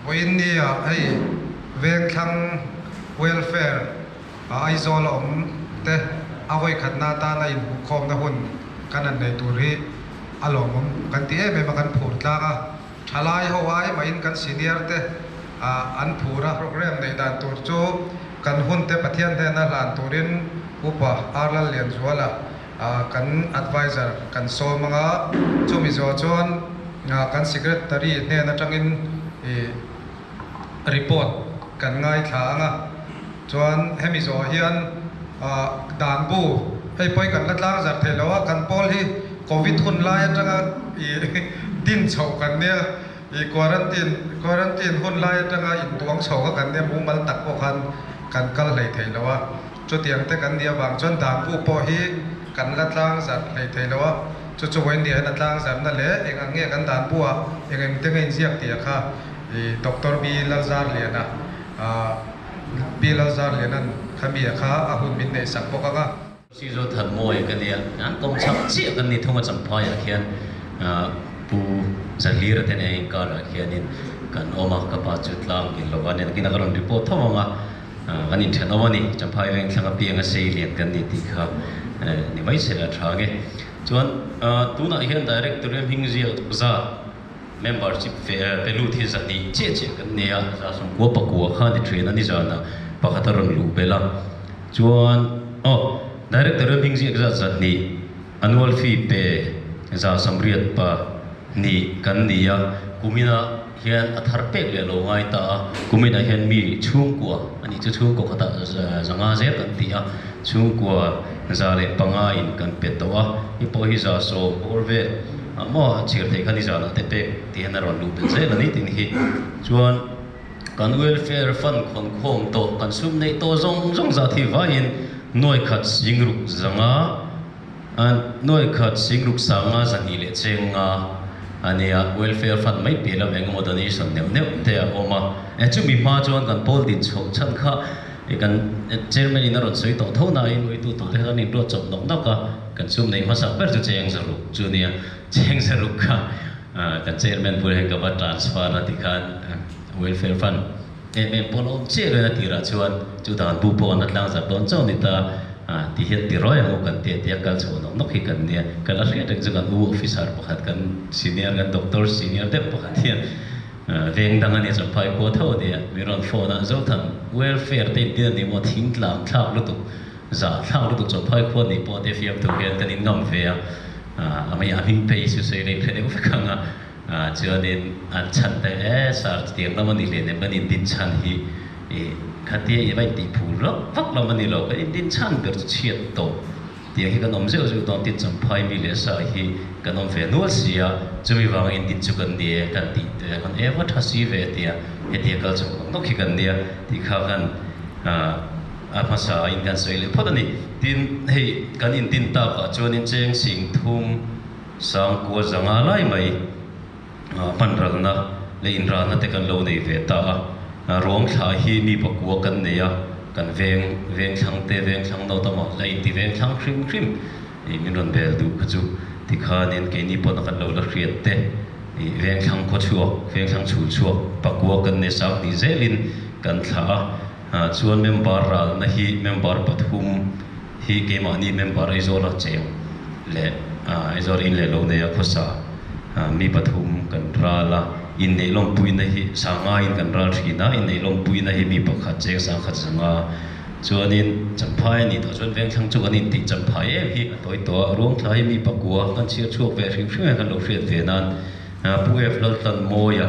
Puinia hei Vengthlang Welfare a Aizawl a awm te a vawikhatna atan a inphuhkhawmna hun kan han nei tur hi a lawmawm kan ti em em a kan phur tlak a, thalai ho ai mahin kan senior te an phur a. Programme neih dan tur chu kan hun te Pathian hnena hlan turin Upa Arlallianzuala. kan advisor kan sawm anga chu Mizo chuan kan secretary hnen atangin report kan ngaithla anga chuan he Mizo hian dan bu hei pawh hi kan la tlang zar thei lo a kan pawl hi covid hun lai atanga din chho kan nia quarantine quarantine hun lai atanga in tuang chho kha kan nia mumal tak pawh khan kan kal hlei thei lo a. Chutiang te kan nih avang chuan dan bu pawh hi kan la tlang zarh hlei thei lo a, chu chu vawiin riahin a tlang zarhna leh eng ang nge kan dan bu a eng eng te ngain ziak tia kha i Doctor Pi Lalzarliana a Pi Lalzarliana'n kha mi a kha a hun min neih sak bawk ang a. Sizu Than Mawi ka nia, an kawng chhak chiah kan ni thung a Champhaiah khian Pu Zahlir te nen a inkarah khianin kan awm a, ka pa chu tlang ilo a nen khi na ka rawn report tho ang a. Kan in ṭhen awm a ni. Champhai veng thlang apiang a sei lian kan ni tih kha ni mai se la ṭha nge. Chuan tunah hian Directory hming ziak zat, membership ve ve lut hi zahnih chiah chiah kan nei a, za sawmkua pakua kha ni ṭhin a ni zana pakhat a rawn luh belh a. Chuan aw Directory hming ziak zat zahnih annual fee pe za samriat pahnih kan ni a, kumina. hian a thar pek leh lo ngai ta a, kuminah hian mi chhungkua a nih chu chhungkaw khatah zanga zel kan ti a, chhungkua za leh panga in kan pe tawh a, i pawh hi za sawm bawr vel ah maw a chhir theih khan i zanah te pek tih hian a rawn luh tel zel a ni tih ni hi chuan kan welfare fund khawn khawm tawh kan sum neih tawh zawng zawng zat hi vaiin nuaikhat sing ruk zanga A hnuai khat Singruk sanga zahnih leh chenga a nia, welfare fund mai piah lam engemaw donation neuh neuh te a awm a. E, chumi hma chuan kan pawl din chhoh chhan kha e kan Chairman in a rawn sawi tawh tho nain nuitu tute kha kan inruat chawp nawk nawk a, kan sum neih hmasa ber chu Chengzaruk chu a nia. Chengzaruk kha kan Chairman bul ah hian ka va transfer a tikhan welfare fund. Eng nge pawn awm chiah lo eng a tirah chuan chu dan bu pawh an la tlang zat dawn chauh ni ta a, ti hian ti rawi ang ho kan ti a tia kal chhuah nawk nawk hi kan nia. Kal a hriat reng chu kan u officer pakhat kan senior kan doctor senior deuh pakhat hian veng dang a nia chaw phai khua tho a nia min rawn phone a Zothan welfare te intin a ni maw thing tlang thlak lutuk zah thlak lutuk chaw phai khua nih pawh a ti a fiamtu hian kan in ngam ve a, a hming phei hi chu sawi reng hre deuh vek ang a. Chuanin an chhan ta e, Sir chutiang lam a ni hlê nem, kan indin chhan hi i khatia i va intih phûl vak vak lam a ni lo, kan indin chhan ber chu chhiat tawh tiang hi kan awm zeuh zeuh dawn, tin Champhai mi leh Sir hi kan awm ve nual si a, chumi vang in din chu kan ni e kan tih teh hun e va tha si ve tia hetia kal chho nawk nawk hi kan nia tih kha khan a hmasa in kan sawi leh phawt a ni. Tin hei kan indin takah chuanin Cheng Sing Thum, Sangkua zanga lai mai hmanralna leh inralna te kan lo nei ve ta a. Ruamthla hi mi pakua kan nei a, kan veng vengthlang te, vengthlang nauta mah la inti vengthlang hrim hrim ih min rawn bel duh kha chu. Tikhanin keini pawn a kan lo la hriat te ih vengthlang khaw chhuak, vengthlang chhul chhuak pakua kan nei sang tih zelin kan thlah a. Chuan member ralna hi member pathum. hi keimahni member Aizawla cheng leh Aizawla in leh lo neia khawsa mi pathum kan ral a, inneihhlawmpuina hi sangain kan ral thin a, inneihhlawmpuina hi mi pakhat cheng sang khat zanga chuanin Champhaia nih tawh chuan Vengthlang chu kan intih champhai em hi a hlawi tawh a, Ruangthlai mi pakua kan chhiar chhuak ve a hrim hrim em kan lo hriat ve nan Pu F. Laltanmawia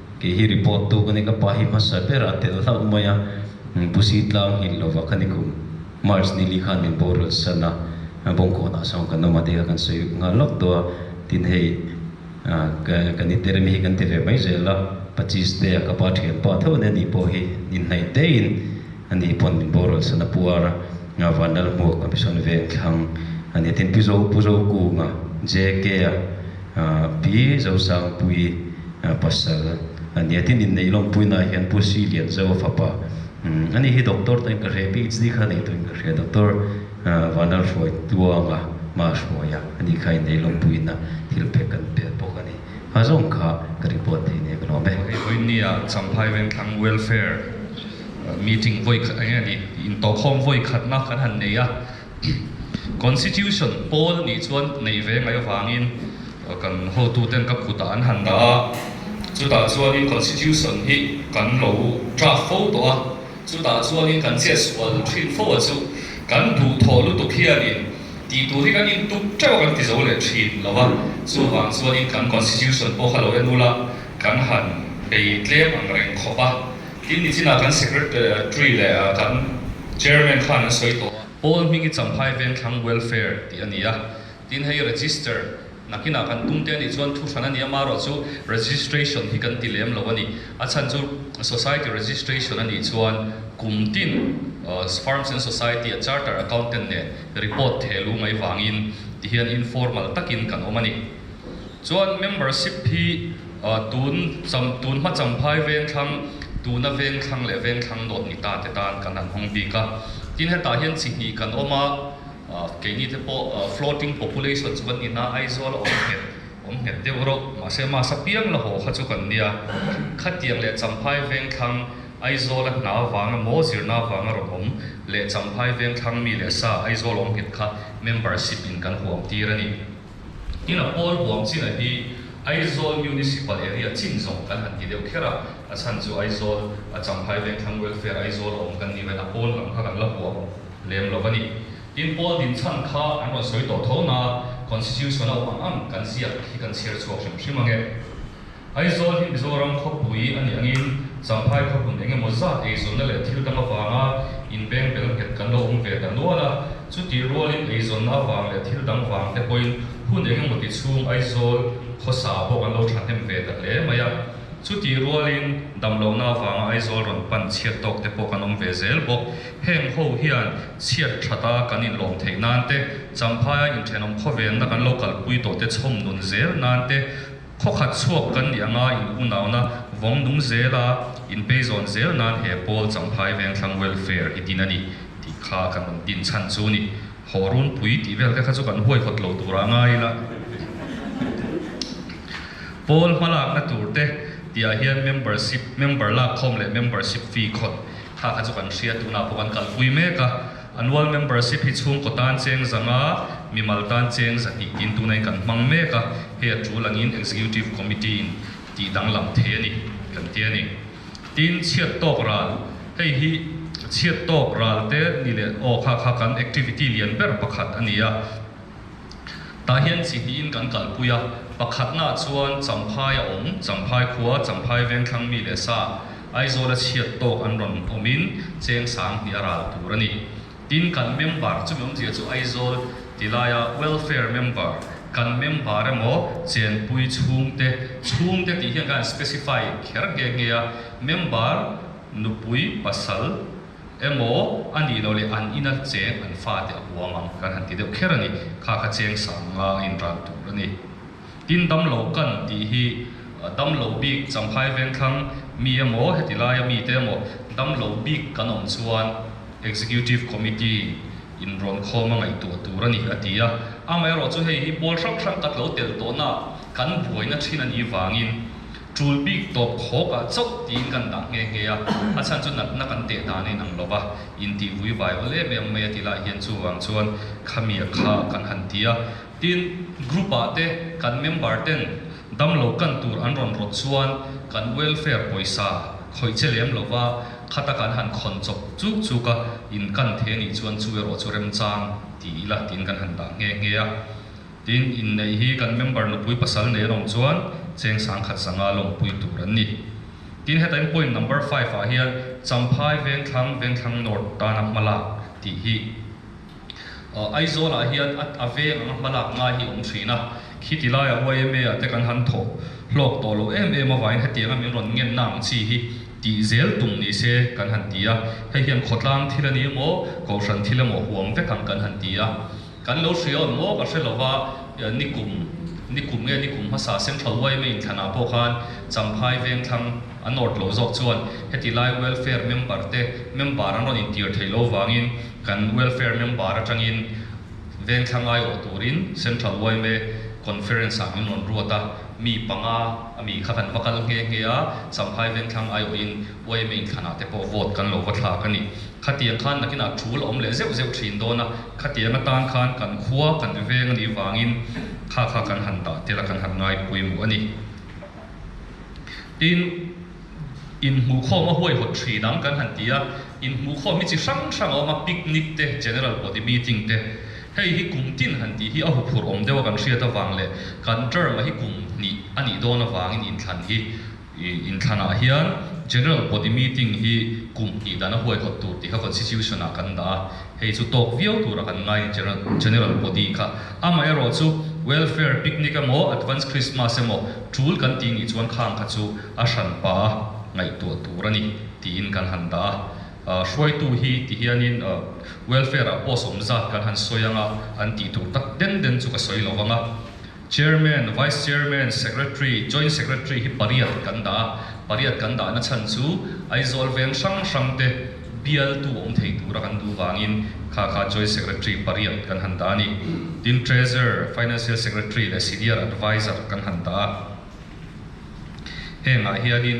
kei hi report tu ka ni ka pa hi hmasa ber a tel hlauh mai a, Busi tlang nghil lova ka ni kum, March ni li khan min boral san a, Bawngkawn ah sawn kan awm a tih kha kan sawi nghal lawk tawh a, tin hei ka ni ter mi hi kan ti ve mai zel a, Pachis te ah ka pa thian pa theuh nen ni pawh hi ni hnaih te in a ni pawn min boral san a puar a, Van Lalhmuak a mihrawn veng thlang a ni tin Pu Zo Pu Zo Kung a, JK a. Pi Zosangpuii pasal a nia. Tin inneih lawmpuiinah hian Pu Sri Lianzawa fapa ani hi doctor tain ka hria, PhD kha nei turin ka hria, Doctor Vanlalhruai Tluanga hma hruaia ani kha inneih lawmpuiina thil pek kan piah bawk a ni. Kha zawng kha ka report thei nek a lawm e. Hei Hoynia Champhai Vengthlang Welfare meeting vawi khat enge a ni, intawhkhawm vawi khatna kan han nei a, Constitution pawl nih chuan neih ve mai avangin kan hotu ten ka kutah an han dah a, chutah chuanin Constitution hi kan lo draft fo tawh a, chutah chuanin kan ziah sual thin fo a chu kan duh thawh lutuk hianin tih tur hi kan intuk teuh a kan ti zo leh thin lo a, chuvang chuanin kan Constitution pawh kha lo en ula kan han bei tlem ang reng khawp a. Tin ni chinah kan Secretary leh kan Chairman khan an sawi tawh a, Paul Hmingi Champhai Vengthlang Welfare tih a ni a, tin hei Register nakin ah kan tum te a nih chuan thu hran a ni a, marawh chu Registration hi kan ti lem lo a ni, a chhan chu Society Registration a nih chuan kum tin Farms and Society a Chartered Accountant nen Report theh lu mai vangin ti hian informal takin kan awm a ni. Chuan membership hi tun cham tun hma cham phai vengthlang, tuna vengthlang leh vengthlang dawt ni ta te tan kan han hmang bik a. Tin hetah hian chi hnih kan awm a, keini te pawh floating population chu kan ni na Aizawl a awm nghet awm nghet deuh reuh, mahse mass apiang la haw kha chu kan nia. Khatiang leh champhai vengthlang Aizawl a hna vang a maw zir na vang a rawn awm leh champhai vengthlang mi leh sa Aizawl awm nghet kha membership in kan huam tir a ni. Ina pawl huam china hi Aizawl Municipal Area chin zawng kan han ti deuh kher a, a chhan chu Aizawl a Changhai Vengthlang Welfare Aizawl a awm kan ni ven a pawl lam kha kan la huam lem lo va ni. Tin, pawl din chhan kha an rawn sawi tawh tho na, Constitution a awm ang ang kan ziak hi kan chhiar chhuak hrim hrim ange. Aizawl hi Mizoram khawpui a ni angin Champhai khawhmun eng emaw zat eizawnna leh thil dang avanga inbeng bel nghet kan lo awm ve ta nual a. Chutih rualin eizawnna avang leh thil dang vang te pawhin hun eng emaw ti chhung Aizawl khawsa pawh kan lo thahnem ve ta hle mai a. Chutih rualin damlohna avanga Aizawl rawn pan chhiat tawk te pawh kan awm ve zel bawk. Heng ho hian chhiat that a kan inlawm theih nan te, Champhaia inthenawm khawvenna kan lo kalpui tawh te chhawm nun zel nan te, Khawkhat chhuak kan nih anga in unauna vawng nung zela in pei zawn zel nan he Paul Champhai Vengthlang Welfare hi din a ni tih kha kan rawn din chhan chu ni. Haw runpui tih vel te kha chu kan huai hawt lo tur a ngai ila. Paul hma lakna tur te tih ah hian membership, member lak khawm leh membership fee khawt kha kha chu kan hria tuna pawh kan kalpui mek a. A nual membership hi chhungkaw tan cheng zang a, mimal tan cheng zat nih tin tuna hi kan hmang mek a, hei a tul angin Executive Committee in tih danglam thei a ni kan ti a ni. Tin, chhiat tawk ral, hei hi chhiat tawk ralte ni leh aw kha kha kan activity lian ber pakhat a ni a. Tah hian chi hnihin kan kalpui a, pakhatnaah chuan Champhai a awm, Champhai khua, Champhai vengthlang mi leh sa Aizawla chhiat tawk an rawn awmin cheng sang hnih a ral tur a ni. Tin, kan member chumi awmzia chu Aizawl ti laia welfare member, kan member emaw chenpui chhungte, chhungte tih hian khan an specify kher nghe nghe a, member nupui pasal, emaw a nih loh leh an in a cheng an fa te a huam ang kan han ti deuh kher a ni. Kha kha cheng sang nga in ran tur a ni. Tin dam lo kan tih hi dam lo bik Champhai Vengthlang mi emaw heti laia mi te emaw dam lo bik kan awm chuan Executive Committee in in rawn khawm a ngaihtuah tur a ni a ti a. Amaherawhchu hei hi pawl hrang hrang ka tlo tel tawhna kan buaina thin a nih vangin, Tul bik tawp khawpah chauh tiin kan dah nghe nghe a, a chhan chu natna kan teh dan a inang lo va, intihvui vai awl em em mai a ti lah hian chuvang chuan khamia kha kan han ti a. Tin, group-ah te kan member ten damlo kan tur an rawn rawt chuan kan welfare pawisa khawih che lem lo va, khata kan han khawn chawp chuk chuk a, in kan the nih chuan chu erawh chu remchang ti ila tiin kan han dah nghe nghe a. Tin, inneih hi kan member nupui pasal nei erawh chuan cheng sang khat sanga lawmpui tur an ni. Tin, hetaiin point number five ah hian Champhai, Vengthlang, Vengthlang North tana hmalak tih hi Aizawlah hian a veng anga hmalak ngai hi a awm thin a. Khi ti laiah yma ah te kan han thaw hlawk tawh loh em em avangin heti anga min rawn ngenna ang chi hi tih zel tum ni se kan han ti a. Hei hian khawtlang thil a ni emaw, Kohhran thil emaw huam vek ang kan han ti a. Kan lo hria awn maw? Ka hre lo va, ni kum, ni kum nge ni kum hmasa seng tho uai mai inthlanah pawh khan Champhai Vengthlang a nawt lo zawk chuan hetilai welfare member te member an rawn intir theih lo vangin kan welfare member atangin Vengthlang aiawh turin Central Uaime Conference ah min rawn ruat a, mi panga a mi kha kan va kal nghe nghe a, Champhai Vengthlang aiawhin Uaime inthlanah te pawh vote kan lo va thlak a ni. Khatiang khan nakin a ṭhul a awm leh zeuh zeuh ṭhin dawn a, khatiang atan khan kan khua kan ri veng a nih vangin kha kha kan han dah tel a, kan han ngai pawimawh a ni. Tin, inhmuhkhawma huaihawt ṭhin ang kan han ti a, inhmuhkhawm hi chi hrang hrang a awm a, picnic te, general body meeting te. Hei hi kum tin han tih hi a huphurh awm deuha kan hriat avang leh kan term-a hi kum hnih a nih dawn avangin inthlan hi. In thlanah hian General Body Meeting hi kum hnih dan a huaihawt tur tih kha Constitution ah kan dah a, hei chu tawk viau tur a kan ngai a General General Body kha. Amah erawh chu Welfare Picnic emaw Advance Christmas emaw tul kan tih nih chuan khang kha chu a hran pa a ngaihtuah tur a ni tiin kan han dah a. Ahh hruaitu hi ti hianin Welfare ah pawh sawm zat kan han sawi ang a an tih tur tak den den chu ka sawi lo vang a. Chairman, Vice Chairman, Secretary, Joint Secretary hi pariat kan dah a, pariat kan dahna chhan chu Aizawl veng hrang hrang te bialtu awm thei tura kan duh vangin kha kha Joint Secretary pariat kan han dah a ni. Tin Treasurer, Financial Secretary leh Senior Advisor kan han dah a. Hengah hianin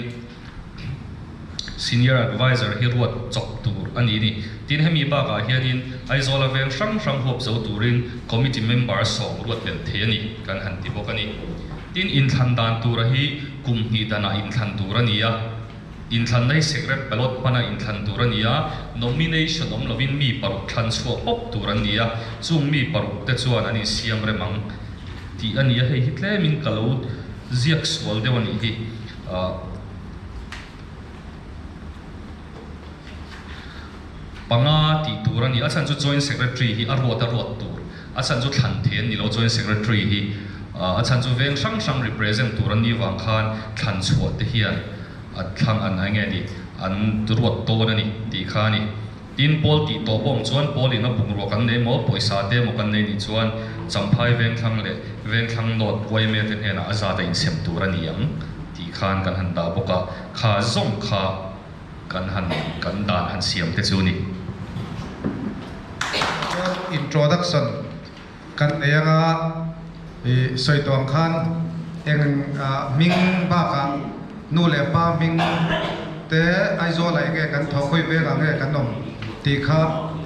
Senior Advisor hi ruat chawp tur a nih ni. Tin, hemi bakah hianin Aizawla veng hrang hrang huap zo turin Committee Member sawm ruat belh thei a ni kan han ti bawk a ni. Tin, inthlan dan tura hi kum hnih danah inthlan tur a ni a, inthlan hi Secret Ballot hmana inthlan tur a ni a, Nomination awm lovin mi paruk thlan chhuah pawp tur an ni a, chung mi paruk te chuan an insiam rem ang tih a ni a, hei hi tlemin ka lo ziak sual deuh a nih hi. panga tih tur a ni. A chhan chu Joint Secretary hi a ruat a ruat tur, a chhan chu thlan thei an ni lo Joint Secretary hi. A chhan chu veng hrang hrang represent tur an ni vang khan thlan chhuah te hian a thlang an enge ni an ruat dawn a ni tih kha a ni. Tin, Paul tih tawh bawng chuan Paulin a bungrua kan nei maw, pawisa te emaw kan nei nih chuan Champhai Vengthlang leh Vengthlang North YMA te hnenah a zat a insem tur a ni ang tih khan kan han dah bawk a, kha zawng kha kan han kan dan han siam te chu a ni. Chuan introduction. Kan nei anga i sawitlawm khan eng hming bakah nu leh pa hming te Aizawl ah nge kan thawkhawi velah nge kan awm tih kha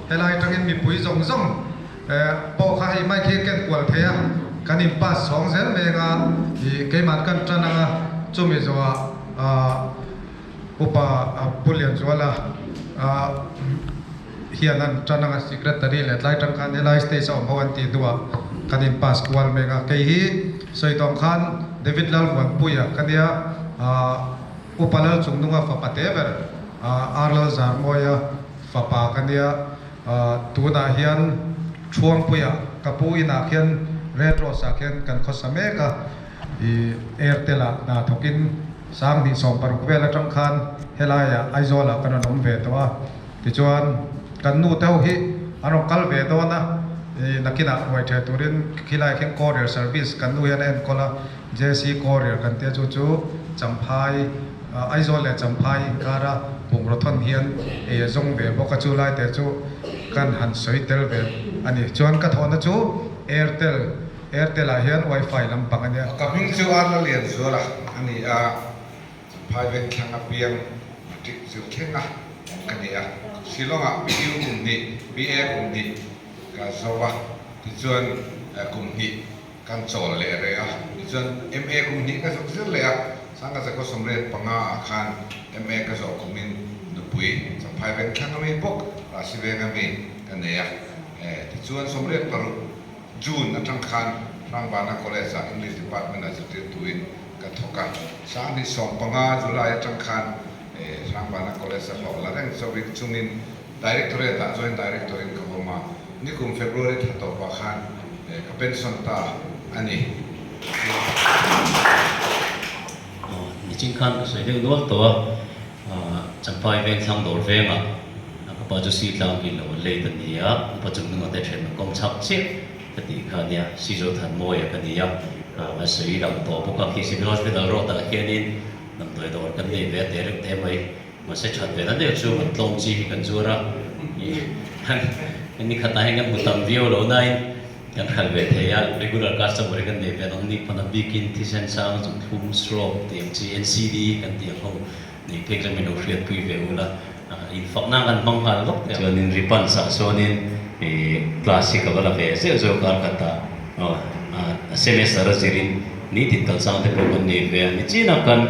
helai atangin mipui zawng zawng pawh kha hei mai khi ken kual theih a kan in pass chhawng zel mai anga i keiman kan tan anga chumi zawha upa Pu Lianzuala hian an tan anga secretary leh tlai tan khan helai stage a awm ho an tih hnu ah kan in pass kual mek a, kei hi sawitawng khan David Lalvuanpui a ka nia aah Upa Lalchungnunga fapa te ber aah Ar Lalzarmawia fapa ka nia aah tunah hian Thruangpuia ka pu inah khian Red Rose ah khian kan khawsa mek a ih Airtel ah hna thawkin sang hnih sawm paruk vel atang khan helai ah Aizawl ah ka rawn awm ve tawh a. Tichuan, kan nu te ho hi an rawn kal ve dawn a, i nakinah uai ṭheh turin khilai khin courier service kan nu hian a enkawl a, JC Courier kan tia chu chu Champhai, Aizawl leh Champhai inkara bungrothawn hian ei a zawng ve bawk a, chu lai te chu kan han sawi tel ve a ni. Chuan ka thawhna chu Airtel, Airtel-ah hian Wi-Fi lampang a nia. Ka hming chu Arnalian Zuala a ni a. Private thlang apiang aṭik zir thlenga ka ni a, Shillongah PU kum hnih, PA kum hnih ka zo a, tichuan kum hnih kan chawl leh reh a, tichuan MA kum hnih ka zuk zir leh a, Sangkhatsa khaw sawmriat panga ah khan MA ka zawh khumin nupui chuan private thlang ami bawk rah si veng ami ka nei a, tichuan sawmriat paruk. June a tang khan Hrangvana College ah English Department ah zirtirtuin ka thawk a. Sanghnih sawm panga, July a tang khan Hrangvana College a hlawh la reng chauhin chungin Directorate ah Joint Director in ka vawm a. Nikum February tha tawh pah khan ka pension ta a ni. Niching khan ka sawi deuh nual tawh a. Champai veng thlang dawr vengah ka pa chu Sitlang hi lo lei ta nia, ka pa chung nungahtei ṭhen a kawm chhak chiah ka tih kha nia, Sizaw Thanmawia ka nia, a sawi lang tawh bawk a, khi Siloaj Middle Road ah hianin damdawi dawr kan nei ve teh reuh teh mai, mahse ṭhat ve na deuh chuan an tlawm chi hi kan zuar a, nikhatah hian kan hmu tam viau lo nain, Kan hal ve thei a, regular customer hi kan nei ve lo, ni pawn a bik in thisen sang a zut hum srawk tih ang chi NCD kan tih ang ho, nei phek leh milo hriat pui ve u la, in fak na kan hmang nghal vak thei ang. Chuan in ri pan sah sawn in i plastic a va la ve zeuh zeuh kar khat a, a semester a zir in ni tin kal sang te pawh kan nei ve a, ni chin a kan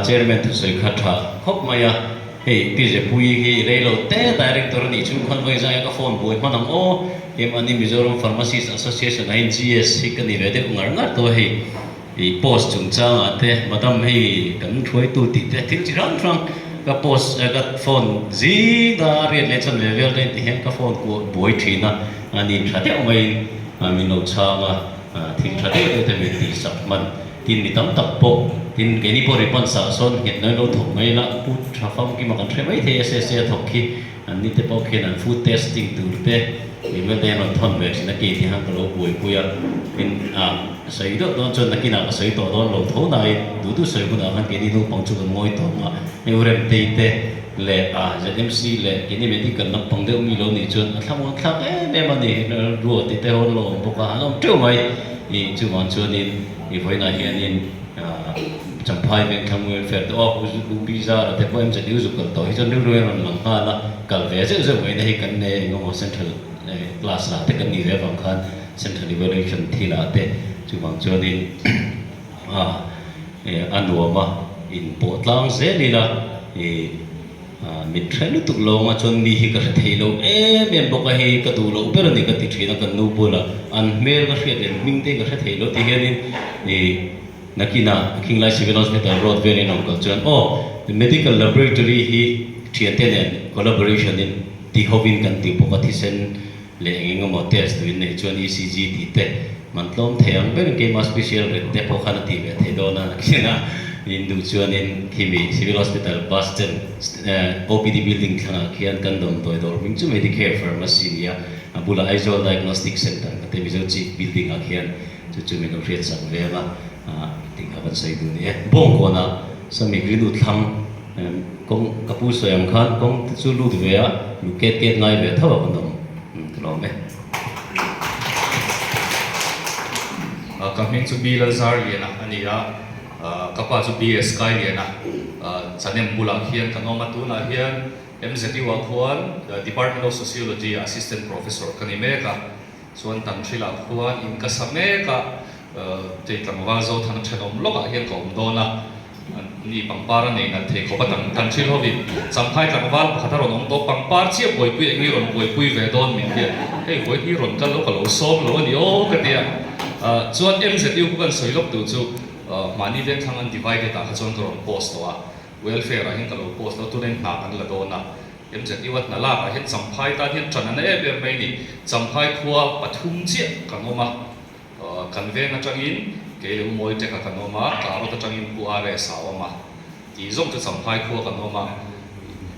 Chairman thusawi kha tha khawp mai a. Hei Pizepui hi i rei lo te director a nih chu khan vawi zai a ka phone buai hman ang aw em ani Mizoram pharmacist association ahin GS hi ka ni ve deuh ngar ngar tawh a hei i post chungchangah te madam hei kan hruaitu tih te thil chi hrang hrang ka post eh ka phone zinga riat leh chhan ve vel daih ti hian ka phone kuah buai thin a ani tha deuh maiin min lo chhang a. Thing tha deuh deuh te min tih sak hman, tin mi tam tak pawh, tin keini pawh ri pan sah sawn nghet ngaih lo thawk mai la, pu tha famkim a kan hre maithei SSA a thawk khi an ni te pawh khian an food testing tur te MLA an rawn thawn ve thin a kei ti han ka lo buai pui a, tin a sawi deuh dawn chuan nakin ah ka sawi tawh dawn lo tho nain duhduh sawi hunah khan keini naupang chu kan ngawi tawng a, hei u remtei te, leh a zmc leh kini medical lampang deuh mi lo nih chuan a thlamuan thlak em em a ni ruati te hawn lo awm bawk a an awm teuh mai i chuvang chuan in i vawiinah hian in ah champhai vengthlang welfare te aw luhbi zara te pawh mzu zuk kalh tawh hi chuan rilru in a rawn lang nghal a kal ve zeuh zeuh mai na hi kan nge eng emaw central eh class lah te kan nih zel vang khan central evaluation thil ah te chuvang chuan in aa a nuam a in pawh tlang zel ila aa min hre lutuk lo ang a chuan mi hi ka hre thei lo em em bawk a hei ka duh loh ber a ni ka ti thin a ka nu bula an hmel ka hriat lem hming te ka hre thei lo ti hian in ih nakin a khinglai civil hospital road vel in a rawn kal chuan aw medical laboratory hi thiante nen collaboration in ti hovin kan ti bawk a thisen leh eng eng emaw test turin neih chuan ECG tih te man tlawm thei ang berin keimah special ret te pawh khan a tih ve thei dawn a khenga in duh chuanin khimi civil hospital bus chen OPD building thlangah khian kan damdawi dawr hming chu Medicare pharmacy a ni a, a bulah Aizawl diagnostic centre ka te Mizo chief building ah khian chu chu min lo hriat sang ve ang a, tih kha kan sawi dun a ni e. Bawngkawnah sami Rilutthlang. Em kawng ka pu sawi ang khan kawng te chu lut ve a lu ket ket ngai ve tho an awm tlawm e. A ka hming chu Bi Lalzar Liana a ni a, ka pa chu Bi Sky Liana, Chanem bulah hian kan awm a, tunah hian MZU ah khuan Department of Sociology ah Assistant Professor ka ni mek a. Chuan kan thil ah khuan in ka sa mek a, kei tlangval Zothana thenawm lawk ah hian ka awm dawn a, ni pangpar a nei nalh thei khawp a tan kan thil ho in Champhai tlangval pakhat a rawn awm tawh pangpar chiah buaipui eng hi rawn buaipui ve dawn min ti a, hei vawi hi rawn kal lo ka lo sawm lo a ni aw ka ti a, chuan MZU ka kan sawi lawk tur chu mahni vengthlang an divided ah kha chuan ka rawn post tawh a, welfare ah hian ka lo post lo a, tun a in nghak an la dawn a. MZU a hna lakah hian Champhai tan hian tan a na em em mai ni. Champhai khua pathum chiah kan awm a, kan veng atangin Keileu Mawite kha kan awm a, Tlarot atangin Pu RS a awm a, tih zawng chu Champhai khua kan awm a.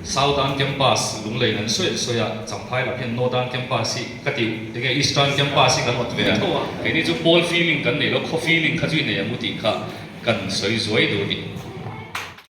Southern Campus lunglei nan sawiin sawi a, Champhai lam hian Northern Campus hi ka ti enge Eastern Campus hi kan awt ve tho a. Keini chu Paul feeling kan nei lo, khaw feeling kha chu i nei ang u tih kha kan sawi zuai duh a ni.